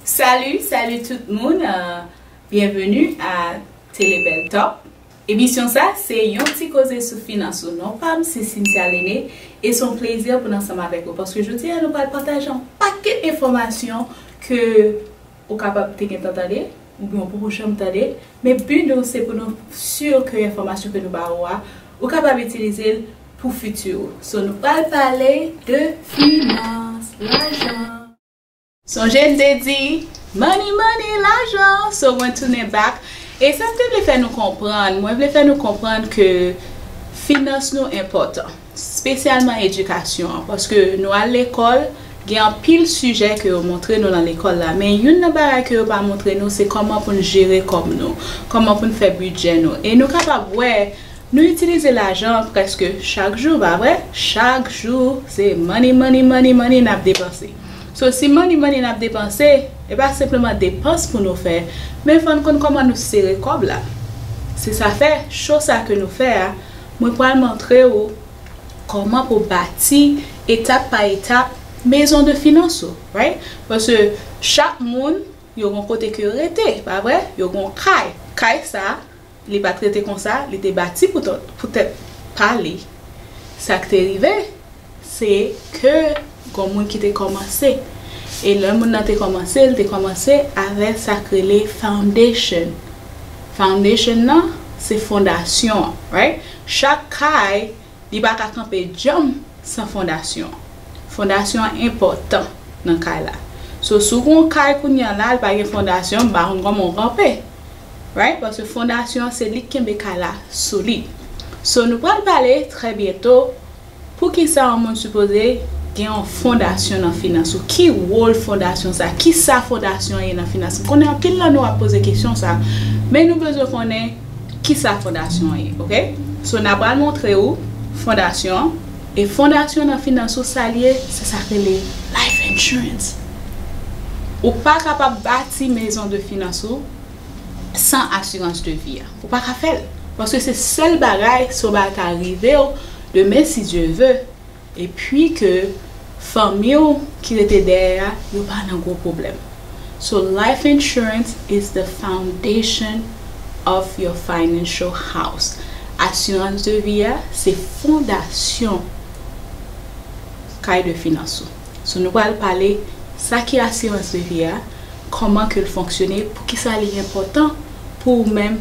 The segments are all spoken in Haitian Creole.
Salut salut tout moun Bienvenue a Télé Belle Talk Emisyon sa se yon ti koze sou finans ou Non pam se Cynthia Lene e son plezi pou n ansanm avèk ou paske jodi a nou pral pataje yon pakèt enfòmasyon ke ou kapab te gentan tande oubyen ou poko janm tande men bi nou se pou nou sur ke enfòmasyon ke nou ba ou a ou kapab itilize l pou fiti ou so nou pral pale de finans lajan. Sonje m te di, Money money, lajan! So mwen tounen back. E sa m te vle fè nou konprann, mwen vle fè nou konprann ke finans nou enpòtan. Spesyalman edikasyon an. Paske nou al lekòl, gen anpil sijè ke yo montre nou lan lekòl la. Men youn nan bagay ke yo pa montre nou se kòman pou n jere kòb nou. Kòman pou n fè bidjè nou. E nou kapab wè, nou itilize lajan prèske chak jou, pa vre? Chak jou, se money money money money n ap depanse. So si money money nap depanse, e pa senpleman depans pou nou fè, men fò n konn kòman nou sere kòb la. Se sa fè, show sa ke nou fè a, mwen pral montre ou kòman pou bati etap pa etap mezon de finans ou, right? Paske chak moun yo gon kote ke yo rete, pa vre? Yo gon kay. Kay sa. Li pa t rete konsa, li te bati pou tèt pa li. Sa k te rive, se ke gon moun ki te kòmanse. E lè moun nan te kòmanse, l te kòmanse avè sa k rele foundation. Foundation nan, se fondasyon an, right? Chak kay, li pa ka kanpe djanm san fondasyon an. Fondasyon an enpòtan nan kay la. So, si w gen yon kay kounye a la, li pa gen fondasyon, m pa konn kòman w kanpe. right paske fondasyon an se lik kenbe kay la solid so nou pral pale trè byento poukisa yon moun sipoze gen yon fondasyon nan finans ou ki wol fondasyon sa kisa fondasyon an ye nan finans m konnen anpil nan nou ap poze kesyon sa men nou bezwen konnen kisa fondasyon an ye ok so na pral montre ou fondasyon. E fondasyon nan finans ou sa l ye, se sa k rele life insurance. Ou pa kapab bati mezon de finans ou san asirans de vi a. Ou pa ka fè l. Paske se sèl bagay si yon bagay ta rive w demen si Dye ve, epi ke fanmi w ki rete dèyè a yo pa nan gwo pwoblèm. So life insurance is the foundation of your financial house. Asirans de vi a se fondasyon kay de finans ou. So nou pral pale sa ki asirans de vi a, kòman ke l fonksyone, poukisa li enpòtan pou ou menm.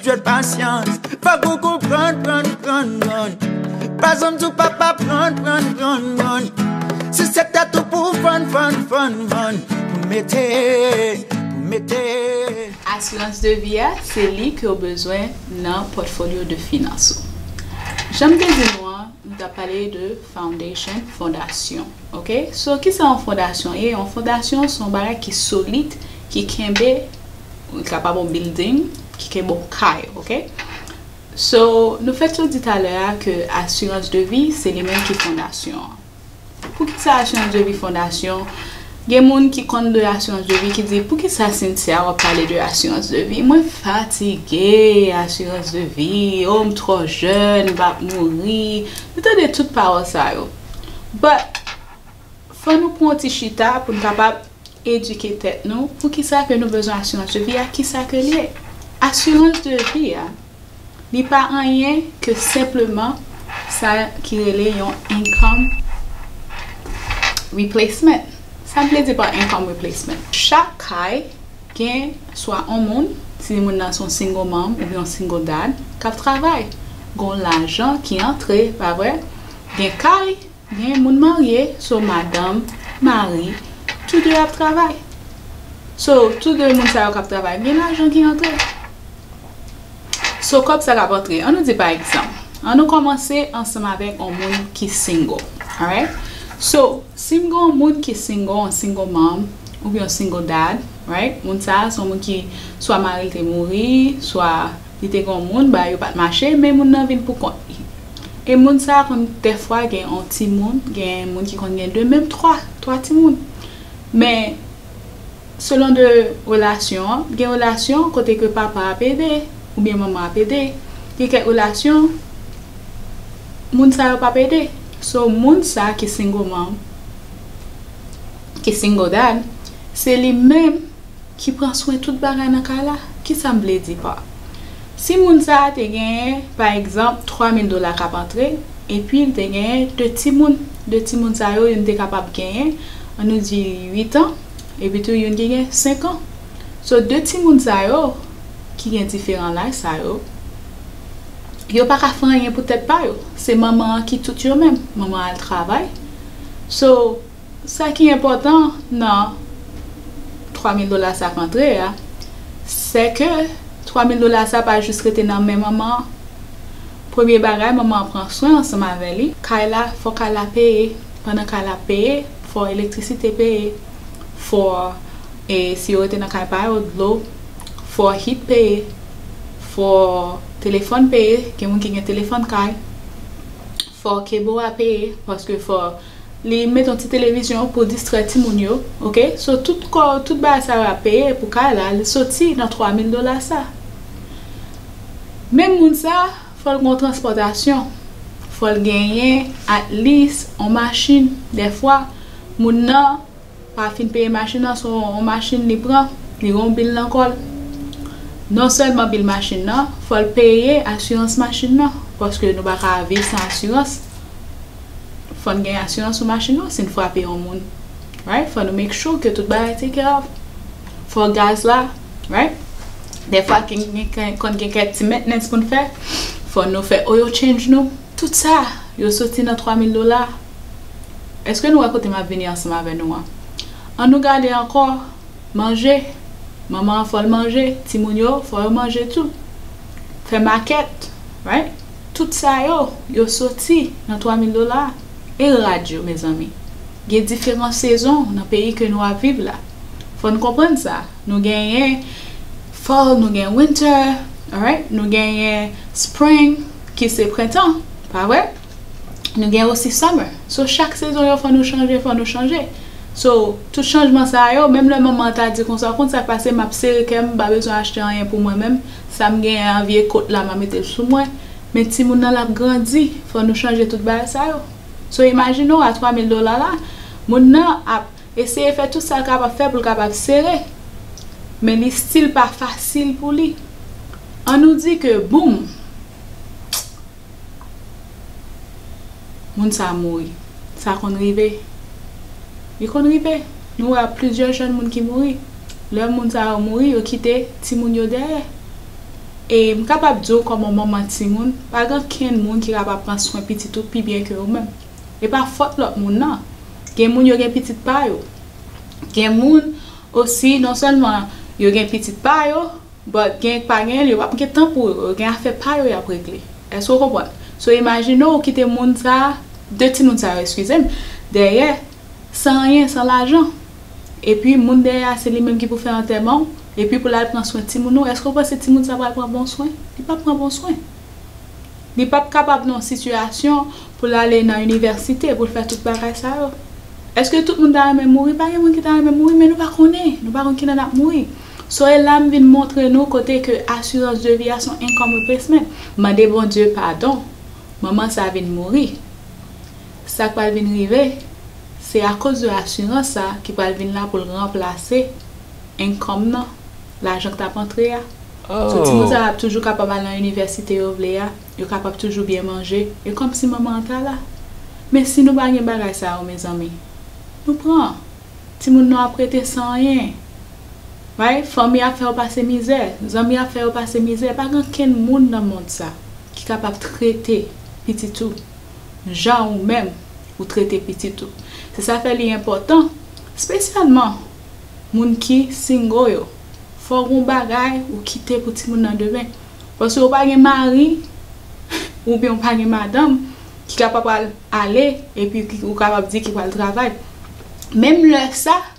Jwèt pasyans, fòk ou konprann, prann, prann, prann Pa zanm sou papa, prann, prann, prann, prann Si se tèt ou pou vann, vann, vann, vann Pou mete, pou mete Asirans de vi a, se li ke w bezwen nan pòtfolyo de finans ou. Jan m te di nou an, m t ap pale de foundation, fondasyon, ok. So, kisa yon fondasyon ye? Yon fondasyon se yon bagay ki solid, ki kenbe. Li kapab yon bilding ki kab yon kay ok so nou fè tou di talè a ke asirans de vi se li menm ki fondasyon an poukisa asirans de vi fondasyon gen moun ki konn de asirans de vi ki di poukisa Cynthia wap pale de asirans de vi mwen fatige asirans de vi o m trò jèn m pap mouri nou tande tout pawòl sa yo but Fò nou pran yon ti chita pou n kapab edike tèt nou pou ki sa ke nou bezwen asirans de vi a, ki sa ke l ye. Asirans de vi a, li pa anyen ke senpleman sa ki rele yon income replacement. Sa m vle di pa income replacement? Chak kay gen swa yon moun, si moun nan se yon single mom oubyen yon single dad, k ap travay. Gen yon lajan ki antre, pa vre? Gen kay Gen moun marye so madanm, mari tou 2 ap travay. So tou 2 moun sa yo kap travay gen lajan ki antre. So kòb sa kap antre an nou di pa egzanp an nou kòmanse ansanm avèk on moun ki single alright so sim gen on moun ki single on single mom oubyen on single dad right moun sa son moun ki swa maril te mouri swa Li te gen yon moun bagay yo pat mache men moun nan vin pou kont li e moun sa konn dèfwa gen yon timoun gen moun ki konn gen 2 menm 3 3 timoun men selon de relasyon an gen relasyon kote ke papa ap ede oubyen manman ap ede gen kèk relasyon moun sa yo pap ede so moun sa ki single mom ki single dad se li menm ki pran swen tout bagay nan kay la? Kisa m vle di pa si moun sa a te genyen pa egzanp 3 mil dola k ap antre epi l te genyen 2 timoun, 2 timoun sa yo youn te kapab genyen an nou di 8 an epitou youn ki gen 5 an so 2 timoun sa yo ki gen diferan laj sa yo yo pa ka fè anyen pou tèt pa yo se manman an ki tout yo menm manman an al travay so Sa ki enpòtan nan 3 mil dola sa k antre a, sè ke 3 mil dola sa pa jis rete nan men manman an. Premye bagay, manman an pran swen ansanm avè li. Kay la, fò kay la peye. Pandan kay la ap peye, fò elektrisite peye. Fò, e si yo rete nan kay pa yo, dlo. Fò hit peye. Fò telefòn peye, gen moun ki gen telefòn kay. Fò kebo a peye paske fò Li met yon ti televizyon pou distrè timoun yo ok so tout kò tout bagay sa yo ap peye pou kay la li soti nan 3 mil dola sa menm moun sa fòl gen yon transpòtasyon fòl genyen at lis yon machin dèfwa moun nan pa fin peye machin nan son yon machin li pran li gen yon bil nan kòl non sèlman bil machin nan fòl peye asirans machin nan paske nou paka viv san asirans fòn gen asirans sou machin nou sin frape yon moun right fò nou make sure ke tout bagay taken of fò gaz la right dèfwa konn gen kèk ti mentnens poun fè fò nou fè oil change nou tout sa yo soti nan 3000 dola. Èske nou wè kote m ap vini ansanm avè nou an? An nou gade ankò, Manje! Manman an fò l manje, timoun yo fò yo manje tou. Fè makèt, right? Tout sa yo, yo soti nan twa mil dola. E rad yo, mezanmi? Gen diferan sezon nan peyi ke nou ap viv la. Fò n konprann sa. Nou genyen Fall, nou gen Winter, alright? Nou genyen Spring, ki se prentan, pa vre? Nou gen osi summer. So chak sezon yo fò nou chanje, fò nou chanje. So tout chanjman sa yo, menm lè manman an ta di konsa, ou konn sa k pase, m ap sere kè m, m pa bezwen achte anyen pou mwen menm, sa m genyen an, vye kot la m a mete l sou mwen. Men timoun nan l ap grandi, fò nou chanje tout bagay sa yo. So imajine w a 3 mil dola la, moun nan ap eseye fè tout sa l kapab fè pou l kapab sere, men li stil pa fasil pou li. An nou di ke boum! moun sa mouri. Sa konn rive. Li konn rive. Nou wè plizyè jèn moun ki mouri. Lè moun sa yo mouri, yo kite timoun yo dèyè. E m kapab di w kòman manman timoun, pa gen okenn moun ki kapab pran swen pitit ou pi byen ke ou menm. E pa fòt lòt moun nan. Gen moun yo gen pitit pa yo. Gen moun osi non sèlman yo gen pitit pa yo. But genk pa genyen li wap gen tan pou yo yo gen afè pa yo yap regle eske ou konprann so imajine ou kite moun sa 2 timoun sa yo eskizem dèyè san anyen san lajan epi moun dèyè a se li menm ki pou fè antèman ou epi pou lal pran swen timoun ou eske ou panse timoun sa pral pran bon swen li pap pran bon swen li pap kapab nan yon sitiyasyon pou l ale nan inivèsite pou l fè tout bagay sa yo eske tout moun ta renmen mouri pa gen moun ki ta renmen mouri men nou pa konnen nou pa konn kilè nap mouri. Soyez la m vin montre nou kote ke assurance de vie a son income replacement. Mande Bondye padon. Manman sa vin mouri. Sa k pral vin rive se a cause de assurance sa ki pral vin la pou l ranplase income nan, lajan k t ap antre a. So timoun sa yo ap toujou kapab al nan inivèsite yo vle a, yo kapab toujou byen manje, e kòm si manman an ta la. Men si nou pa gen bagay sa yo mezanmi, nou pran. Timoun nou ap rete san anyen. Right? Fanmi ap fè yo pase mizè, zanmi ap fè yo pase mizè, pa gen ankenn moun nan mond sa ki kapab trete pitit ou jan ou menm ou trete pitit ou. Se sa fè li enpòtan, spesyalman moun ki single yo, fò gon bagay ou kite pou timoun nan demen. Paske ou pa gen mari oubyen ou pa gen madanm ki kapab pral ale epi ou kapab di ki pral travay. Menm lè sa.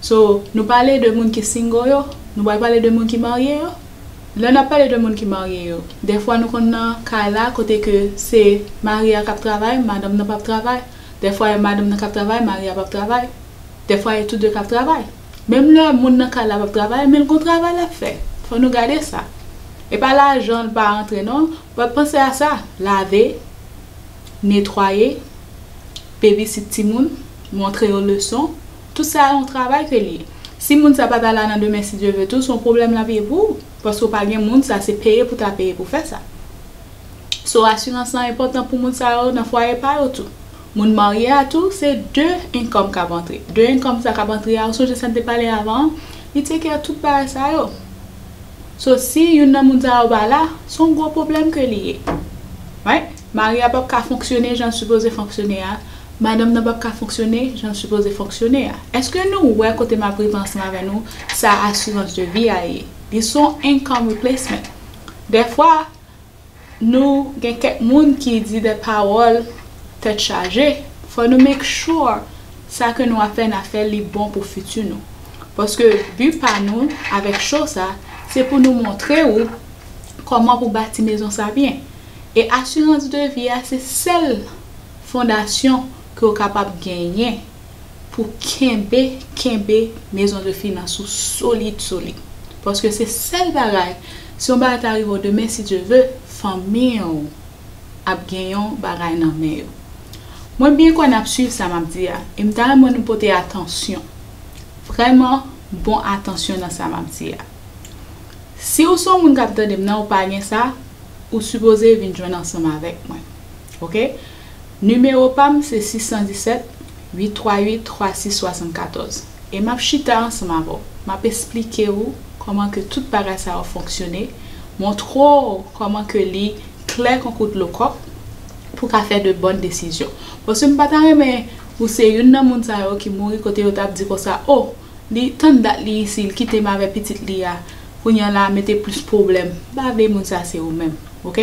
So nou pale de moun ki single yo, nou pral pale de moun ki marye yo? Lè nap pale de moun ki marye yo, dèfwa nou konn nan kay la kote ke se mari a kap travay, madanm nan pap travay, dèfwa e madanm nan kap travay, mari a pap travay, dèfwa e tou de kap travay. Menm lè moun nan kay la pap travay menl gon travay lap fè. Fò nou gade sa. E pa lajan l pa antre non, but panse a sa, lave, netwaye, Bebisit timoun, montre yo leson, tout sa a yon travay ke li ye. Si moun sa pa ta la nan demen si Dye ve tou, son pwoblèm l ap ye pou ou, paske w pa gen moun sa, se peye pou ta peye pou fè sa. So asirans lan enpòtan pou moun sa yo nan fwaye pa yo tou. Moun marye a tou, se 2 enkòm k ap antre. 2 enkòm sa k ap antre a, ou sonje sa n te pale avan an, li take care tout bagay sa yo. So si youn nan moun sa yo pa la, son gwo pwoblèm ke li ye. Right? Mari a pap ka fonksyone jan l sipoze fonksyone a, madanm nan pap ka fonksyone jan l sipoze fonksyone a. Eske nou wè kote m ap rive ansanm avè nou, sa asirans de vi a ye? Li s on income replacement. Dèfwa, nou gen kèk moun ki di dè pawòl tèt chaje, fò nou make sure sa ke nou ap fè n ap fè l li bon pou fiti nou. Paske bi pa nou avèk show sa, se pou nou montre ou kòman pou bati mezon sa byen. E asirans de vi a se sèl fondasyon ke w kapab genyen pou kenbe kenbe mezon de finans ou solid solid. Paske se sèl bagay, si yon bagay ta rive w demen si Dye ve, fanmi w ap gen yon bagay nan men yo. Mwen byen kwè n ap swiv sa m ap di a, e m ta renmen nou pote atansyon, vrèman bon atansyon nan sa m ap di a. Si ou son moun kap tandem nan ou pa gen sa ou sipoze vin jwenn ansanm avèk mwen ok nimewo pam se 617 838 3674 e map chita ansanm avèw map esplike ou kòman ke tout bagay sa yo fonksyone montre w kòman ke li klè konkou dlo kòk pou ka fè de bòn desizyon paske m pata renmen ou se youn nan moun sa yo ki mouri kote yo tap di konsa oh Li tann dat li isi li kitem avè pitit li a kounya la mete plis pwoblèm m pa vle moun sa se ou menm ok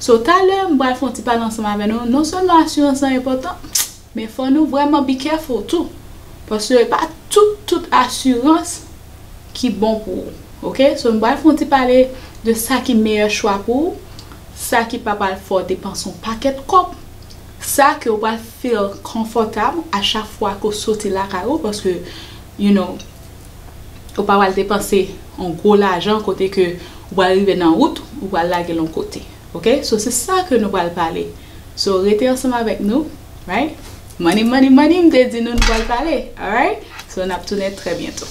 so talè m pral fon ti pale ansanm avè nou non sèlman asirans lan enpòtan men fò nou vrèman be careful tou paske pa tout tout asirans ki bon pou ou ok so nou pral fon ti pale de sa ki meyè chwa pou ou sa ki pa pral fè w depans on pakèt kòb Sa ke ou pral feel konfòtab a chak fwa ke ou soti lakay ou paske you know ou pa pral depanse yon gwo lajan kote ke ou pral rive nan wout ou pral lagel yon kote ok so se sa ke nou pral pale so rete ansanm avèk nou right money money money m te di nou nou pral pale alright so nap tounen trè byento.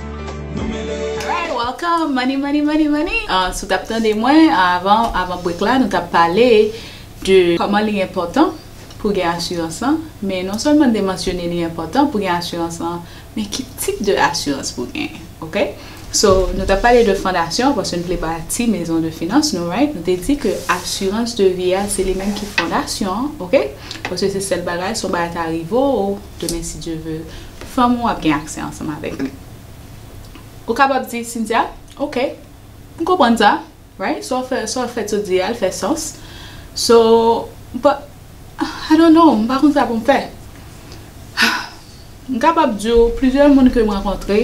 Alright welcome money money money money si w tap tande mwen avan avan break la nou tap pale de kòman li enpòtan pou gen asirans lan men non sèlman n te mansyone li enpòtan pou gen asirans lan men ki tip de asirans pou gen ok so nou tap pale de fondasyon paske nou te vle bati mezon de finans nou right nou te di ke asirans de vi a se li menm ki fondasyon ok paske se sèl bagay si yon bagay ta rive w Demen si Dye ve, fanm ou ap gen aksè ansanm avèk li. Ou kapab di Cynthia, Ok, m konprann sa, right? Sa w fè, sa w fè t ou di a, l fè sans. So, but, I don't know, m pa konn sa pou m fè. M kapab di w, plizyè moun ke m rankontre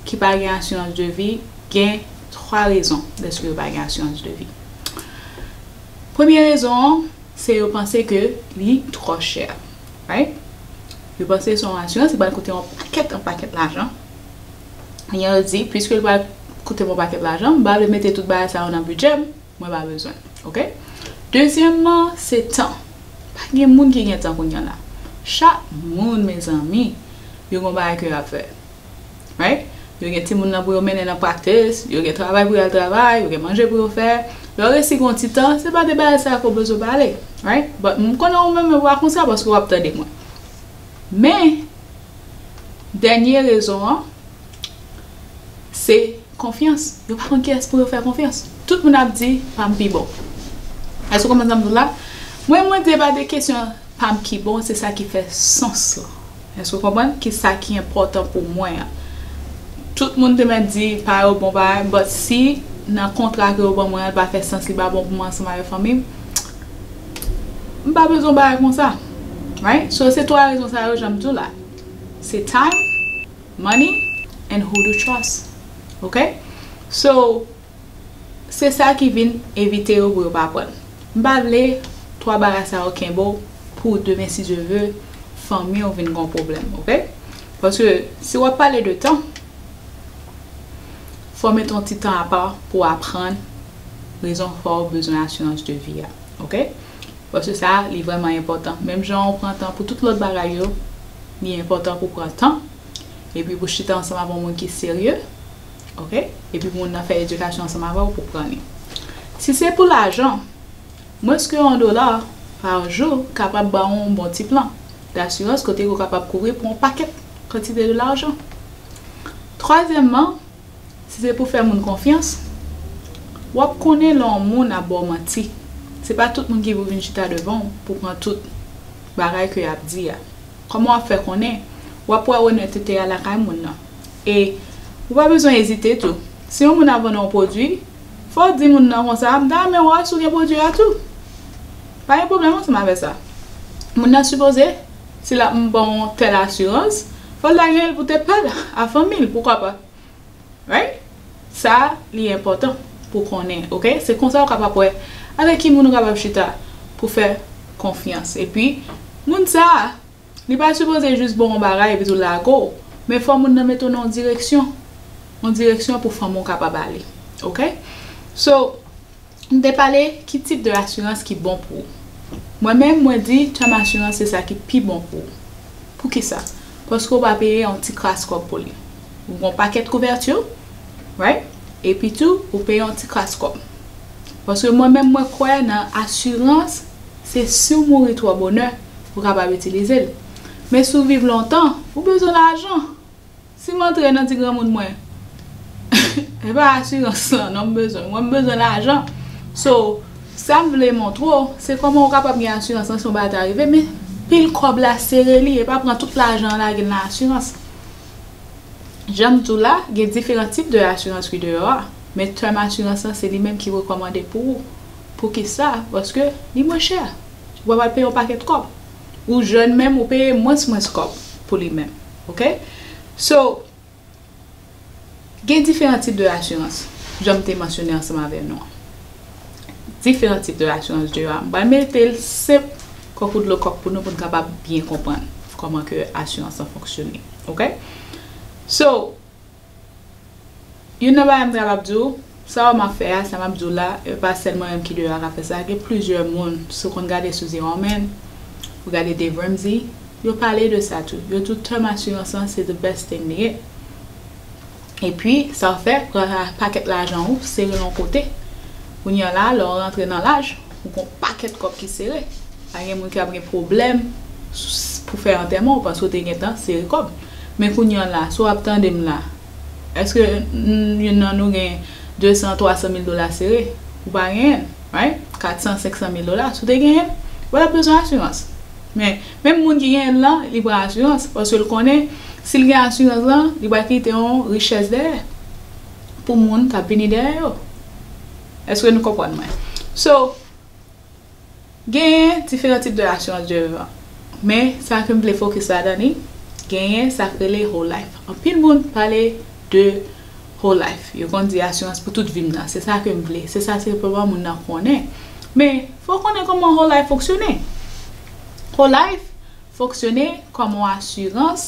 ki pa gen asirans de vi, gen 3 rezon dèske yo pa gen asirans de vi. Premye rezon an. Se yo panse ke li trò chè. Right? Yo panse se yon asirans ki pral koute yon pakèt yon pakèt lajan. Enyen yo di, pwiske li pral koute m yon pakèt lajan, m pa vle mete tout bagay sa yo nan bidjè m, mwen pa bezwen. Ok? Dezyèmman, se tan. Pa gen moun ki gen tan kounya la. Chak moun mezanmi, yo gen yon bagay ke y ap fè. Right? Yo gen timoun nan pou yo mennen nan practice, yo gen travay pou yo al travay, yo gen manje pou yo fè. Lè w resi gen yon ti tan, se pa de bagay sa yo ke w bezwen pale. Right? But m konnen ou menm ou pa konsa paske w ap tande mwen. Men, dènye rezon an, se konfyans. Yo pa konn kiyès pou yo fè konfyans. Tout moun ap di, pa m pi bon. Èske w konprann sa m di w la? Mwen, mwen di e pa de kesyon pa m ki bon, se sa ki fè sans lan. Èske ou konprann? Ki sa ki enpòtan pou mwen an. Tout moun te mèt di pa yo bon bagay, but si nan kontra ke yo ban mwen an li pa fè sans, li pa bon pou mwen ansanm avèk fanmi m, m pa bezwen yon bagay konsa. Right? So se 3 rezon sa yo jan m di w la. Se time, money, and who to trust. Ok? So. Se sa ki vin evite yo pou yo pa prann. M pa vle 3 bagay sa yo kenbe w pou w demen si Dye ve fanmi w vin gon pwoblèm ok. Paske si w ap pale de tan fò w mete yon ti tan apa pou w aprann rezon ki fè w bezwen asirans de vi a ok. Paske sa li vrèman enpòtan menm jan ou pran tan pou tout lòt bagay yo li enpòtan pou w pran tan epi pou w chita ansanm ak yon moun ki serye. ok epi moun nan fè edikasyon ansanm avè w pou pran li si se pou lajan mwens ke yon dola pa jou kapab ba w yon bon ti plan dasirans kote ou kapab kouvri pou yon pakèt kantite de lajan twazyèmman si se pou fè moun konfyans w ap konnen lè yon moun ap ba w manti se pa tout moun ki pou vin chita devan w pou pran tout bagay ke y ap di a kòman w ap fè konnen w ap wè onètete a lakay moun nan. E ou pa bezwen ezite tou. Si yon moun ap vann yon pwodui, fò w di moun nan konsa, m ta renmen wè si w gen pwodui a tou. Pa gen pwoblèm ansanm avè sa. Moun nan sipoze, si l ap ban w yon tèl asirans, fò l ta genyen l pou te pa l a fanmi l, poukwa pa. Right? Sa a li enpòtan pou w konnen, ok? Se konsa ou kapab wè avèk ki moun ou kapab chita pou fè konfyans. Epi, moun sa a. Li pa sipoze jis ba w yon bagay epi tou lage w, men fò moun nan mete w nan yon direksyon, yon direksyon pou fanmi w kapab ale ok. So, nou te pale ki tip de asirans ki bon pou ou. Mwen menm mwen di term asirans se sa ki pi bon pou ou. Poukisa? Paske w va peye yon ti kras kòb pou li. Ou gen yon pakèt kouvèti, right, epi tou ou peye yon ti kras kòb. Paske mwen menm mwen kwè nan asirans. Se si w mouri twò bonè, ou kapab itilize l. Men si w viv lontan, ou bezwen lajan. Si m antre nan di granmoun mwen, E pa asirans lan non m bezwen. Mwen m bezwen lajan. So, sa m vle montre w, se kòman ou kapab gen asirans lan si yon bagay ta rive, men pile kòb la, sere li, e pa pran tout lajan an lage l nan asirans. Jan m di w la, gen diferan tip de asirans ki deyò a. Men tèm asirans lan se li menm ki rekòmande pou ou. Poukisa? Paske li mwen chè. Ou pa pral peye yon pakèt kòb. Ou jèn menm ou peye mwens mwens kòb pou li menm. Ok? So, gen diferan tip de asirans. Jan m te mansyone ansanm avè nou an. Diferan tip de asirans de yo a. M pral mete l senp kò kou dlo kòk pou nou pou n kapab byen konprann kòman ke asirans lan fonksyone. Ok? So, Youn nan bagay m ta kab di w, sa wè m ap fè a, sa m ap di w la, e pa sèl mwen menm ki deyò a ka fè sa, gen plizyè moun, si w konn gade sou Ze Ròmen, ou gade Dave Ramsey, yo pale de sa tou. Yo di w tèm asirans lan se the best thing li gen. Epi, sa w fè, pran pakèt lajan ou, sere l yon kote. Kounye a la, lè w rantre nan laj, Ou gon pakèt kòb ki sere. Pa gen moun ki ap gen pwoblèm pou fè antèman w paske w te gentan sere kòb. Men kounye an la, si w ap tande m la, èske youn nan nou gen 200, 300 mil dola sere? Ou pa genyen l, right? 400, 500 mil dola, si w te genyen l, ou pa t ap bezwen asirans. Men, menm moun ki genyen l lan, li pran asirans paske l konnen si l gen asirans lan, li pral kite yon richès dèyè pou moun k ap vini dèyè yo. Eske nou konprann mwen? So, genyen diferan tip de asirans de vivan. Men, sa ke m vle fokis ladan li, genyen sa k rele whole life. Anpil moun pale de whole life. Yo konn di asirans pou tout vi m nan. Se sa ke m vle. Se sa senpleman moun nan konnen. Men, fò w konnen kòman whole life fonksyone. Whole life fonksyone kòm yon asirans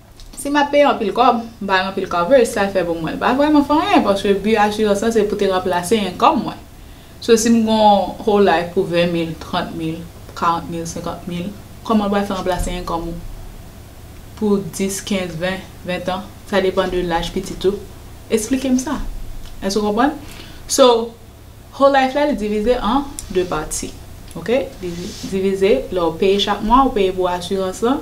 Si m ap peye anpil kòb, m bay anpil coverage, sa l fè pou mwen? L pa vrèman fè anyen paske bi asirans lan se pou te ranplase income mwen. So si m gen yon whole life pou 20 mil, 30 mil, 40 mil, 50 mil, kòman l pral fè ranplase income ou pou 10, 15, 20, 20 tan? Sa depan de laj pitit ou. Esplike m sa. Èske ou konprann? So, whole life la li divize an 2 pati. Ok? Li divize lè ou peye chak mwa, ou peye pou asirans lan,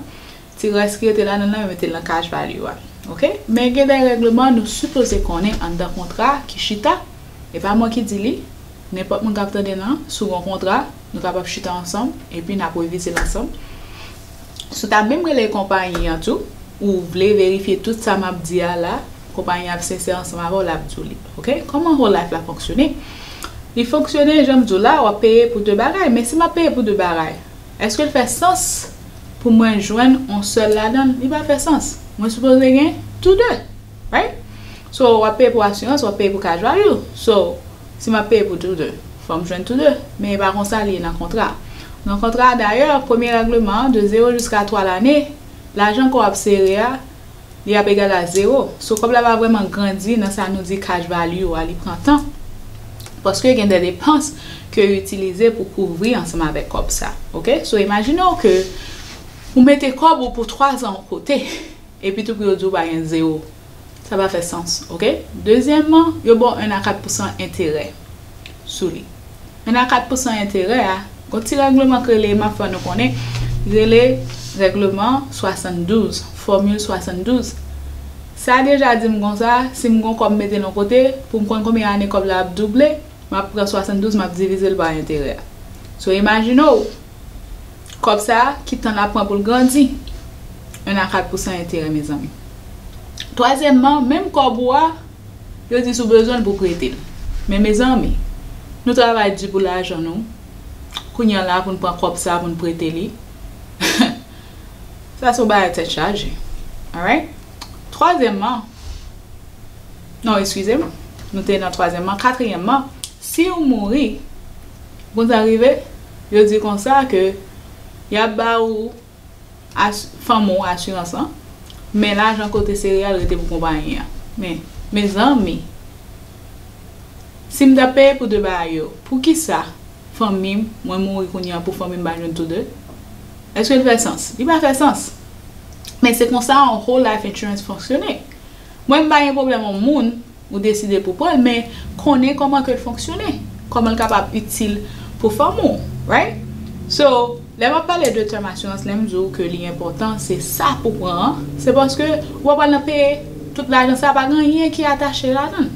Ti rès ki rete la nan nan yo metel nan kaj pa li yo a ok men gen dè règleman nou sipoze konnen anndan kontra ki chita e pa mwen ki di li nenpòt moun kap tande nan sou gon kontra nou kapab chita ansanm epi nap revizel ansanm sou ta menm rele konpayi an tou ou vle verifye tout sa map di a la konpayi an ap sensè ansanm avèw lap diw li ok kòman whole life la fonksyone li fonksyone janm diw la wap peye pou 2 bagay men si map peye pou 2 bagay eskel fè sans pou mwen jwenn on sèl ladanl li pa fè sans mwen sipoze gen tou 2 right so wap peye pou asirans wap peye pou kaj vayou so si map peye pou tou 2 fòm jwenn tou 2 men e pa konsa li ye nan kontra nan kontra dayè premye règleman de 0 jiska 3 lane lajan ke wap sere a li ap egal a zewo. So kòb la pa vrèman grandi nan sa nou di cash value a li pran tan paske gen de depans ke yo itilize pou kouvri ansanm avèk kòb sa ok so imajine w ke ou mete kòb ou pou 3 zan yon kote epitou pou yo di w pa gen zewo sa pa fè sans ok dezyèman yo ba w 1 a 4 pousan enterè sou li. Men a 4 pousan enterè a, gon ti règleman k rele, m ap fè nou konnen, ki rele règleman 72, fòmil 72. Sa deja di m konsa, si m gon kòb m mete l yon kote, pou m konn konbyen ane kòb la ap double, m ap pran 72 m ap divize l pa enterè a. So imajine w, kòb sa a, ki tan l ap pran pou l grandi? 1 a 4 pousan enterè mezanmi. Twazyèmman, menm kòb ou a, Yo di si w bezwen l pou w prete l. Men mezanmi, nou travay di pou lajan nou, kounye an la pou n pran kòb sa pou n prete li? Sa se yon bagay tèt chaje. Alright? Twazyèmman, non eskize m, nou te nan twazyèmman, katriyèmman, si w mouri, konn sa k rive? Yo di konsa ke y ap ba ou. Fanm ou asirans lan. Men lajan kote sereyal rete pou konpayi an. Men Mezanmi! Si m ta peye pou 2 bagay yo, poukisa fanmi m, mwen mouri kounye an pou fanmi m pa jwenn tou 2? Eske l fè sans? Li pa fè sans. Men se konsa yon Whole Life Insurance fonksyone. Mwen m pa gen pwoblèm yon moun. Ou deside pou pranl men konnen koman kel fonksyone, komanl kapab itil pou fanmi w right. So lè map pale de tèm asirans lèm di w ke li enpòtan se sa pou pran an se paske ou pa pral nan peye tout lajan sa pa gen anyen ki atache ladann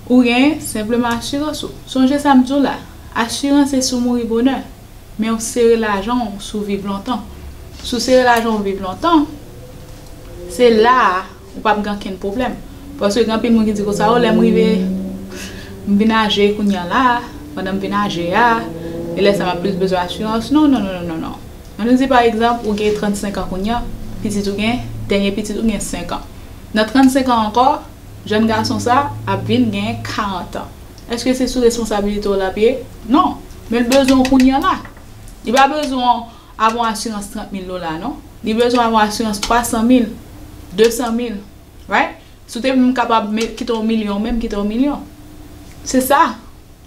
ou gen senpleman asirans ou sonje sam di w la asirans se si w mouri bonè men ou sere lajan w si w viv lontan si w sere lajan w viv lontan se la a Ou pap gen ankenn pwoblèm. Paske gen anpil moun ki di konsa, o lè m rive, m vin aje kounye an la, pandan m vin aje a, e lè sa m ap plis bezwen asirans. Non, non, non, non, non. An nou di pa egzanp, ou gen 35 an kounye an, pitit ou gen, dènye pitit ou gen 5 an. Nan 35 an ankò, jèn gason sa ap vin gen 40 an. Èske se sou responsabilite w l ap ye? Non. Men l bezwen w kounye an la. Li pa bezwen w. Ap on asirans 30 mil dola non. Li bezwen ap on asirans 300 mil, 200 mil. Right? Si w te menm kapab met kite on milyon ou menm kite on milyon. Se sa.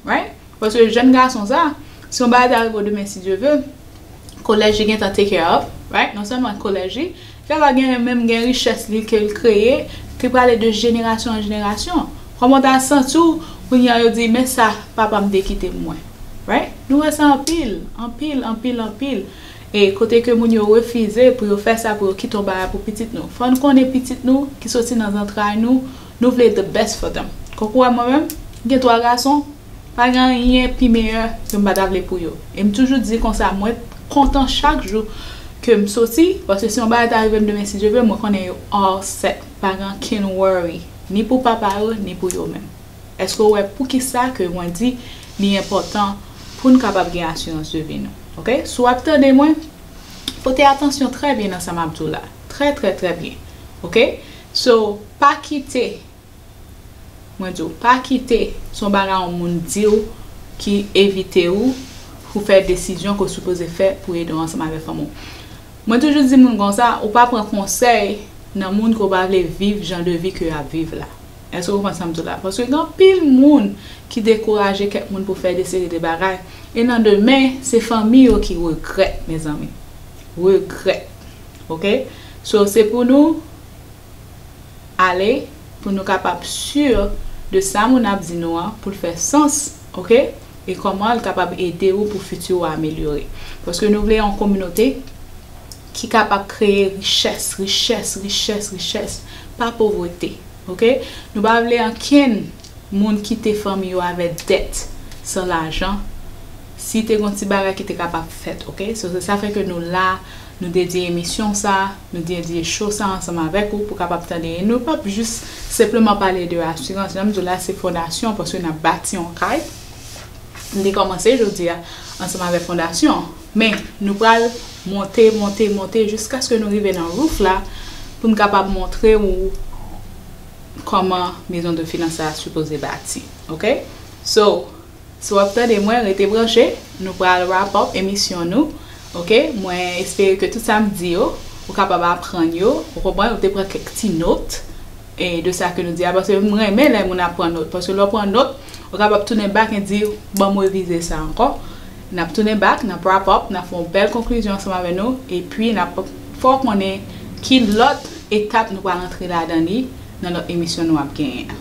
Right? Paske jèn gason sa, si on bagay ta rive w demen si Dye ve, kolèj li gentan take care of. Right? Non sèlman kolèj li. Yo pa genyen menm gen richès li ke l kreye ki prale de jenerasyon an jenerasyon. Kòman w ta santi w kounye a yo di men sa papa m te kite m mwen. Right? Nou wè sa anpil, anpil, anpil, anpil. E kote ke moun yo refize pou yo fè sa pou yo kite yon bagay pou pitit nou. Fò n konnen pitit nou ki soti nan zantray nou, nou vle the best for them. Kòk ou wè mwen menm, m gen 3 gason. Pa gen anyen pi meyè ke m pa ta vle pou yo. E m toujou di konsa mwen kontan chak jou ke m soti, paske si yon bagay ta rive m demen si Dye vle, mwen konnen yo all set, pa gen ankenn worry, ni pou papa yo, ni pou yo menm. Eske w wè poukisa ke mwen di li enpòtan pou n kapab gen asirans de vi nou? Ok? Si w ap tande mwen, pote atansyon trè byen nan sa m ap di w la. Trè trè trè byen. Ok? So, pa kite. Mwen diw pa kite son bagay yon moun diw ki evite ou pou fè desizyon ke w sipoze fè pou ede w ansanm avèk fanmi w. Mwen toujou di moun konsa ou pa pran konsèy nan moun ke w pa vle viv jan de vi ke yap viv la. Eske w konprann sam diw la? Paske gen anpil moun ki dekouraje kèk moun pou fè de seri de bagay e nan demen se fanmi yo ki regrèt mezanmi. Regrèt. Ok. So se pou nou. ale pou nou kapab sur de sa moun ap di nou an poul fè sans ok e kòman l kapab ede ou pou futur ou amelyore paske nou vle yon kominote ki kapab kreye richès richès richès richès pa povrete ok nou pa vle ankenn moun kite fanmi yo avè dèt san lajan si te gon ti bagay ki te kapab fèt ok so se sa fè ke nou la nou dedye emisyon sa. Nou te endiye show sa ansanm avèk ou pou kapab tande e nou pap jis senpleman pale de asirans. Jan m di w la se fondasyon paske n ap bati yon kay. N te kòmanse jodi a ansanm avèk fondasyon an. Men nou pral monte, monte, monte jiskaske nou rive nan roof la pou n kapab montre ou kòman Maison de Finance sa a sipoze bati. Ok? So. Si wap tande mwen rete branche nou pral wrap up emisyon nou ok mwen espere ke tout sa m di yo ou kapab aprann yo ou konprann ou te pran kèk ti not de sa ke nou di a paske m renmen lè moun ap pran not paske lè w pran not ou kapab tounen back e di banm revize sa ankò nap tounen back nap wrap up nap fè yon bèl konklizyon ansanm avè nou epi nap fè w konnen ki lòt etap nou pral antre ladan li nan lòt emisyon nou ap genyen.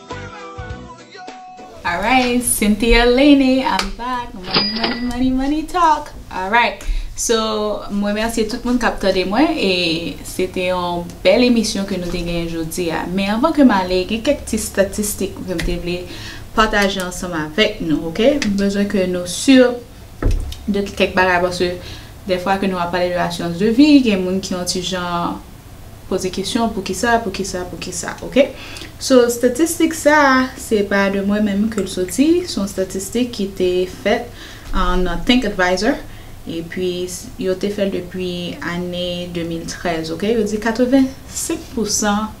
Alright Cynthia Lene I'm back Money money money money talk Alright So m remèsye tout moun k ap tande mwen e se te yon bèl emisyon ke nou te genyen jodi a. Men anvan ke m ale gen kèk ti statistik ke m te vle pataje ansanm avèk nou ok. M bezwen ke nou sur de kèk bagay paske dèfwa ke nou ap pale de assurance de vie gen moun ki yon ti jan Poze kesyon poukisa, poukisa, poukisa ok. So statistik sa a se pa de mwen menm ke l soti, s on statistik ki te fèt nan Think Advisor epi yo te fè l depi ane 2013 ok. Yo di 85 pou san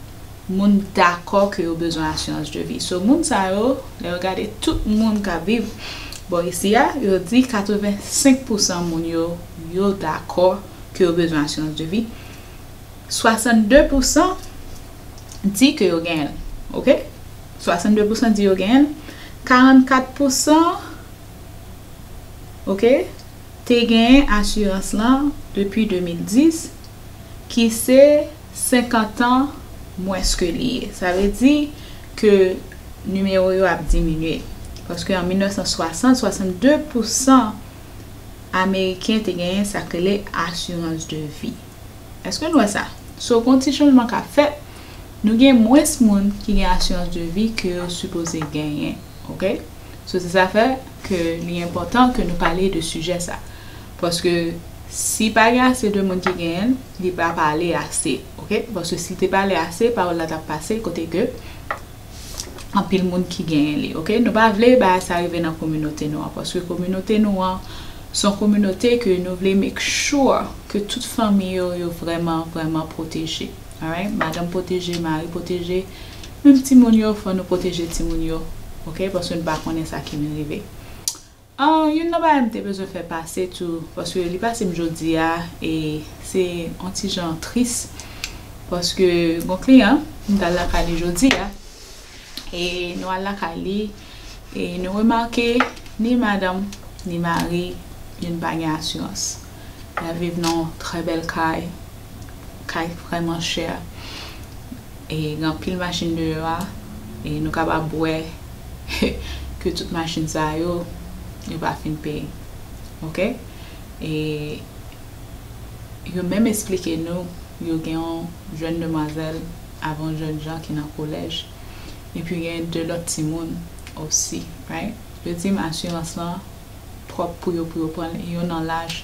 moun dakò ke yo bezwen asirans de vi. So moun sa yo, lè yo gade tout moun k ap viv bò isi a, yo di 85 pou san moun yo, yo dakò ke yo bezwen asirans de vi. 62 pou san di ke yo genyen l. Ok? 62 pou san di yo genyen l. 44 pou san ok, te genyen asirans lan depi 2010 ki se 50 an mwens ke li ye. Sa vle di ke nimewo yo ap diminye. Paske an 1960, 62 pou san ameriken te genyen sa k rele asirans de vi. Eske nou wè sa? So gon ti chanjman k ap fèt, nou gen mwens moun ki gen asirans de vi ke yo sipoze genyen. Ok? So se sa fè ke li enpòtan ke nou pale de sijè sa. Paske si pa gen ase de moun ki genyen l, li pa pale ase. Ok? Paske si te pale ase, pawòl la t ap pase kote ke. anpil moun ki genyen li ok nou pa vle bagay sa rive nan kominote nou an paske kominote nou an son kominote ke nou vle make sure ke tout fanmi yo yo vrèman vrèman pwoteje alright madanm pwoteje mari pwoteje menm timoun yo fò nou pwoteje timoun yo ok paske nou pa konnen sa ki vin rive. Ahh youn nan bagay m te bezwen fè pase tou paske li pase m jodi a e se on ti jan tris paske gon kliyan m t al lakay li jodi a e nou al lakay li e nou remake ni madanm ni mari youn pa gen asirans. Mwen viv nan yon trè bèl kay. Kay vrèman chè. E gen anpil machin deyò a. E nou kapab wè ke tout machin sa yo, yo pa fin peye. Ok? E yo menm esplike nou yo gen yon jèn demwazèl avè yon jèn jan ki nan kolèj. Epi gen 2 lòt timoun osi. Right? Yo di m asirans lan. twòp pou yo pou yo prann yon nan laj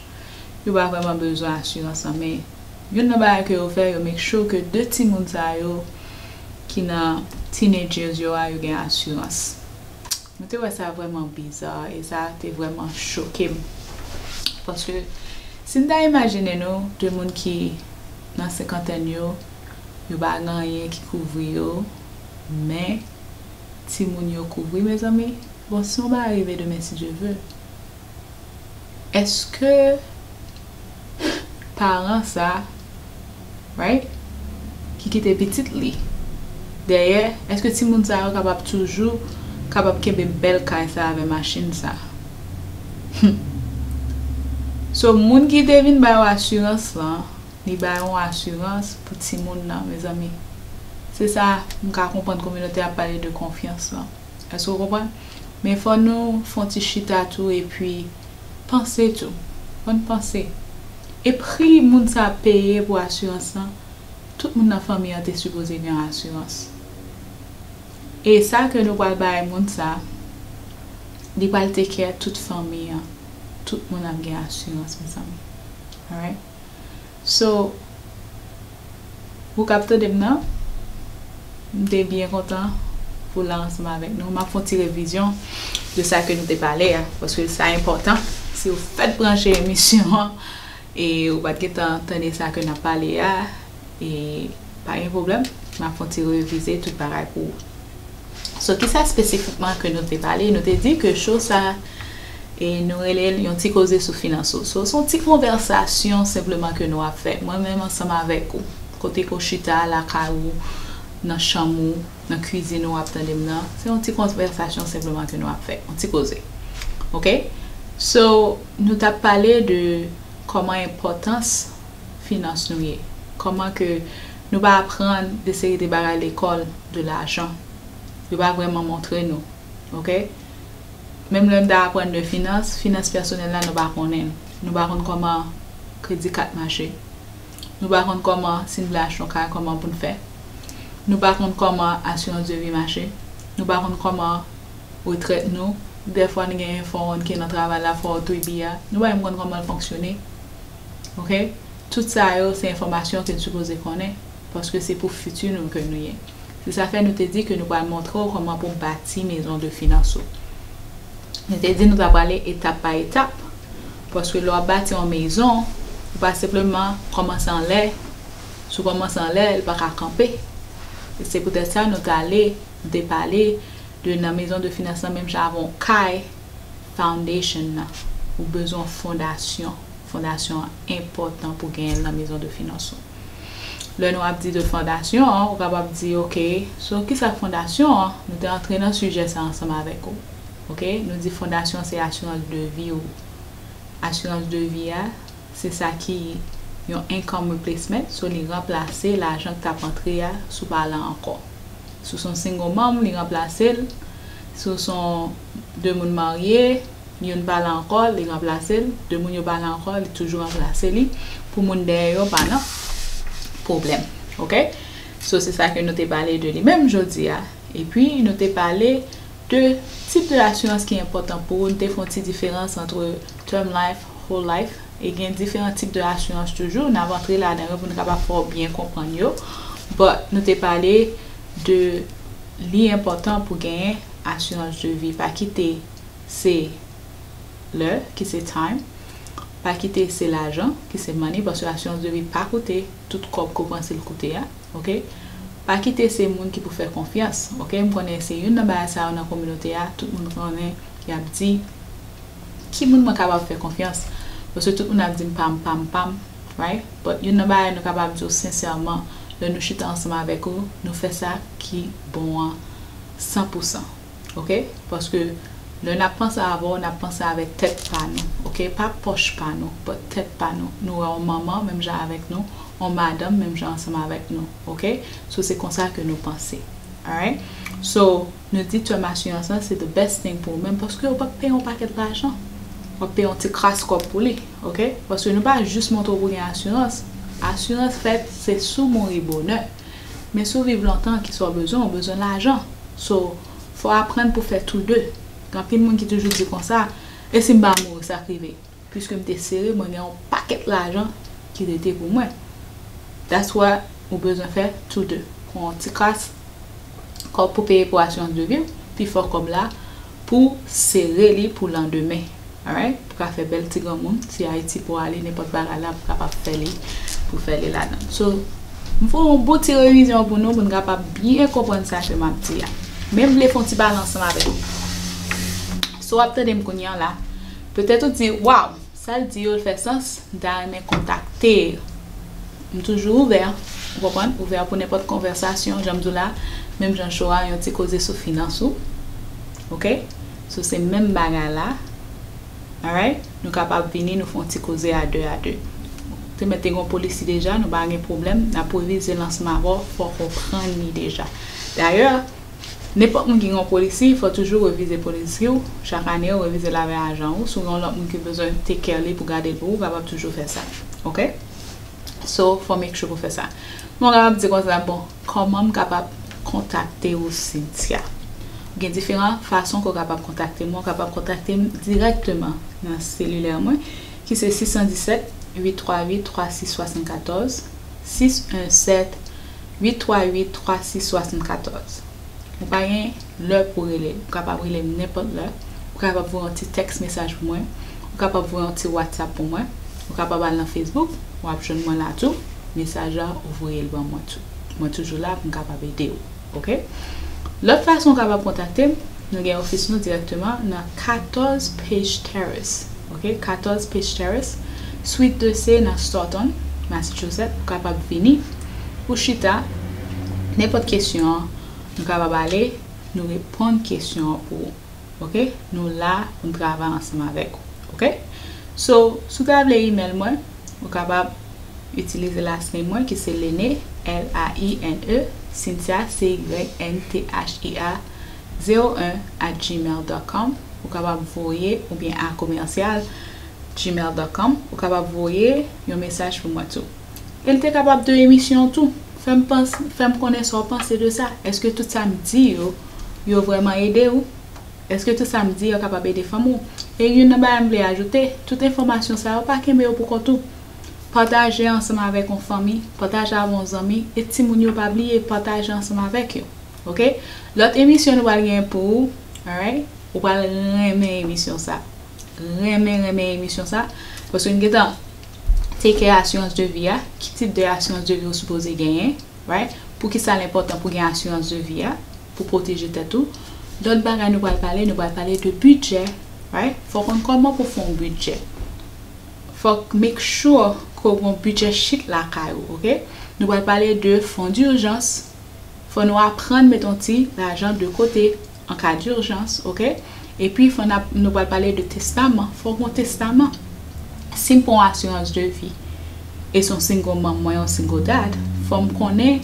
yo pa vrèman bezwen asirans lan men youn nan bagay ke yo fè yo make sure ke 2 timoun sa yo ki nan teenage years yo a yo gen asirans mwen te wè sa vrèman bizarre e sa te vrèman choke m paske si n ta imajine nou 2 moun ki nan senkantèn yo yo pa gen anyen ki kouvri yo men. Timoun yo kouvri mezanmi. Bon si mwen pa arive demen si Dye ve eske paran sa right ki kite pitit li dèyè eske timoun sa yo kapab toujou kapab kenbe bèl kay sa avè machin sa humm so moun ki te vin bay ou asirans lan. Li bay yon asirans pou timoun nan mezanmi. Se sa m ka konprann kominote ap pale de konfyans lan. Èske w konprann? Men fò nou fè yon ti chita tou epi panse tou. Fò n panse. E pri moun sa ap peye pou asirans lan, tout moun nan fanmi an te sipoze gen asirans. E sa ke nou pral bay moun sa, li pral take care tout fanmi an. Tout moun ap gen asirans mezanmi. Alright? So Pou kap tandem nan m te byen kontan Pou la ansanm avèk nou map fè yon ti revizyon de sa ke nou te pale a paske sa enpòtan siw fèk branche emisyon an e ou pat gentan tande sa ke nap pale a Pa gen pwoblèm, m ap fon ti revize tout bagay pou ou. So ki sa espesifikman ke nou te pale? Nou te di ke show sa e nou rele l yon ti koze sou finans ou. So son ti konvèsasyon senpleman ke nou ap fè mwen menm ansanm avèk ou. Kote ke ou chita lakay ou, nan chanm ou, nan kwizin ou ap tande m nan. Se yon ti konvèsasyon senpleman ke nou ap fè. Yon ti koze. Ok? So nou t ap pale de kòman enpòtans. finans nou ye? Kòman ke nou pa aprann de seri de bagay lekòl de lajan? Yo pa vrèman montre nou. Ok? Menm lè nou ta aprann de finans, finans pèsonèl la nou pa konnen l. Nou pa konn kòman kredi kat mache. Nou pa konn kòman si n vle achte yon kay kòman pou n fè. Nou pa konn kòman asirans de vi mache. Nou pa konn kòman retrèt nou, dèfwa n gen yon 401k nan travay la, 403b a, nou pa menm konn kòman l fonksyone. ok tout sa yo se enfòmasyon ke n sipoze konnen paske se pou fiti nou ke nou ye se sa fè nou te di ke nou pral montre w kòman pou bati mezon de finans ou nou te di nou ta prale etap pa etap paske lè w ap bati yon mezon ou pa senpleman kòmanse anlè si w kòmanse anlè li paka kanpe e se poutèt sa nou t ale nou te pale de nan mezon de finans lan menm jan avèk yon kay. Foundation nan, ou bezwen yon fondasyon. Fondasyon an enpòtan pou genyen l nan mezon de finans ou. Lè nou ap di de fondasyon an, ou kapab di, ok, so ki sa fondasyon an? Nou te antre nan sijè sa ansanm avèk ou. Ok, nou di fondasyon se asirans de vi ou. Asirans de vi a, se sa ki yon income replacement, so li ranplase lajan ki t ap antre a si w pa la ankò. Si w se yon single mom, li ranplase l. Si w se yon. 2 moun marye, youn pa la ankò, li ranplase l, 2 moun yo pa la ankò, li toujou ranplase li, pou moun dèyè yo pa nan pwoblèm. Ok? So se sa ke nou te pale de li menm jodi a. E pi nou te pale de tip de asirans ki enpòtan pou ou, nou te fè yon ti diferans antre term life, whole life, e gen diferan tip de asirans toujou, n ap antre ladan yo pou nou kapab fè w byen konprann yo, but nou te pale de li enpòtan pou genyen asirans de vi pa kite se lè ki se time pa kite se lajan ki se money paske asirans de vi pa koute tout kòb ke w panse l koute a ok pa kite se moun ki pou fè konfyans ok m konnen se youn nan bagay sa yo nan kominote a tout moun konnen yap di ki moun mwen kapab fè konfyans paske tout moun ap di m pam pam pam right but youn nan bagay nou kapab di w sensèman lè nou chita ansanm avèk ou nou fè sa ki bon an. San pou san ok paske lè nap panse avèw nap panse avèk tèt pa nou ok pa pòch pa nou but tèt pa nou nou wè on manman menm jan avèk nou on madanm menm jan ansanm avèk nou ok so se konsa ke nou panse alright so nou di tèm asirans lan se the best thing pou ou menm paske ou pap peye on pakèt lajan wap peye on ti kras kòb pou li ok paske nou pa jis montre w pou gen asirans asirans fèt se si w mouri bonè Men si w viv lontan kisa w bezwen, ou bezwen lajan. So, fò w aprann pou w fè tou de. Gen anpil moun ki toujou di konsa, e si m pa mouri sa k rive? Piske m te sere, mwen gen yon pakèt lajan ki rete pou mwen. That's why ou bezwen fè tou de. Pran yon ti kras kòb pou peye pou asirans de vi w, pifò kòb la, Pou sere li pou landemen. Alright pou ka fè bèl ti granmoun si Haïti pou ale nenpòt bagay la pou kapab fè li pou fè li ladann so m fè yon bon ti revizyon pou nou pou n kapab byen konprann sa ke m ap di a men m vle fè yon ti pale ansanm avèk nou sa w ap tande m kounye an la petèt ou di waw Sal di yo fè sans, m ta renmen kontakte l. M toujou ouvè, ou konprann, ouvè pou nenpòt konvèsasyon, jan m di w la, menm jan cho a, yon ti koze sou finans ou. Ok? So se menm bagay la. Alright? Nou kapab vini nou fè yon ti koze a de a de. Te mèt te gen yon polisi deja, nou pa gen pwoblèm, n ap revize lansman avè w, fò w konprann li deja. Dayè, Nenpòt moun ki gen yon polisi fò toujou revize polisi w chak ane ou revize l avè ajan ou sou yon lòt moun ki bezwen take care li pou gade l pou ou kapab toujou fè sa ok so fò make sure pou fè sa men ou kapab di konsa bon kòman m kapab kontakte ou Cynthia gen diferan fason ke w kapab kontakte m ou kapab kontakte m dirèkteman nan selilè mwen. ki se 617 838 3674, 617 838 3674. Ou pa gen lè pou rele m, ou kapab rele m nenpòt lè, ou kapab voye yon ti tèks mesaj pou mwen, ou kapab voye yon ti whatsapp pou mwen, ou kapab al nan Facebook, w ap jwenn mwen la tou, mesaj la ou voye l ban mwen tou. Mwen toujou la pou m kapab ede w. Ok. Lòt fason ou kapab kontakte m, nou gen ofis nou dirèkteman nan 14 Pace Terrace, ok, 14 Pace Terrace, Suite 2 se nan Stoughton, Massachusetts, ou kapab vini, ou chita, nenpòt kesyon nou kapab ale, nou reponn kesyon an pou ou. ok nou la pou n travay ansanm avèk ou ok so si w ta vle email mwen ou kapab itilize last name mwen ki se Lene L A I N E Cynthia C Y N T H I A 01 at gmail dot com ou kapab voye oubyen a commercial gmail dot com ou kapab voye yon mesaj pou mwen tou. El te kapab de emisyon tou. Fèm panc fèm konnen sa w panse de sa. Eske tout sa m di yo yo vrèman ede ou? Eske tout sa m di yo kapab ede fanmi w? E youn nan bagay m vle ajoute, tout enfòmasyon sa yo pa kenbe yo pou kont ou. Pataje ansanm avèk on fanmi, pataje avè on zanmi e timoun yo pa bliye pataje ansanm avèk yo ok. Lòt emisyon nou pral gen pou ou alright ou pral renmen emisyon sa. Renmen renmen emisyon sa paske m gentan Take care assurance de vie a, ki tip de assurance de vie ou sipoze genyen, right? Poukisa l enpòtan pou gen assurance de vie a, pou pwoteje tèt ou. Lòt bagay nou pral pale, nou pral pale de bidjè, right? Fò w konn kòman pou w fè yon bidjè. Fòk make sure ke w gen yon bidjè chit lakay ou, ok? Nou pral pale de fon d'urgence, fò nou aprann mete yon ti lajan de kote. En cas d'urgence ok epi fò nap nou pral pale de testaman fò gon testaman sim pran yon assurance de vie e son single mom mwen yon single dad fòm konnen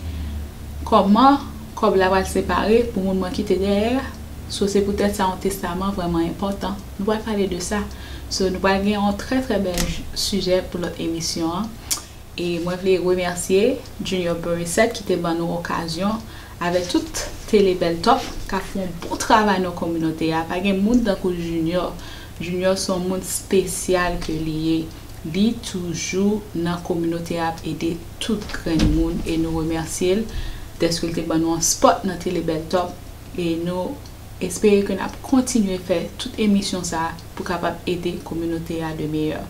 kòman kòb la pral separe pou moun mwen kite dèyè a so se pou tèt sa yon testaman vrèman enpòtan nou pral pale de sa so nou pral gen yon trè trè bèl sujet pou lòt emisyon an e mwen vle remèsye Junior Burissette ki te ban nou okazyon Avèk tout tele bèl top kap fè yon bon travay nan kominote a pa gen moun tankou junior junior son moun spesyal ke li ye li toujou nan kominote a ap ede tout grenn moun e nou remèsye l dèske l te ban nou yon spot nan tele bèl top e nou espere ke nap kontinye fè tout emisyon sa pou kapab ede kominote a de meyè.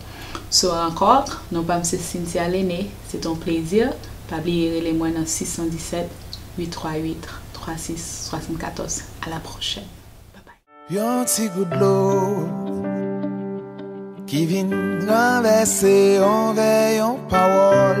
Sou Rankòk, non pam se Cynthia Lene, se t on plezi, pa bliye rele mwen nan 617 838 3674 a la pwochèn. Yon ti gout dlo ki vin ranvèse yon vè, yon pawòl.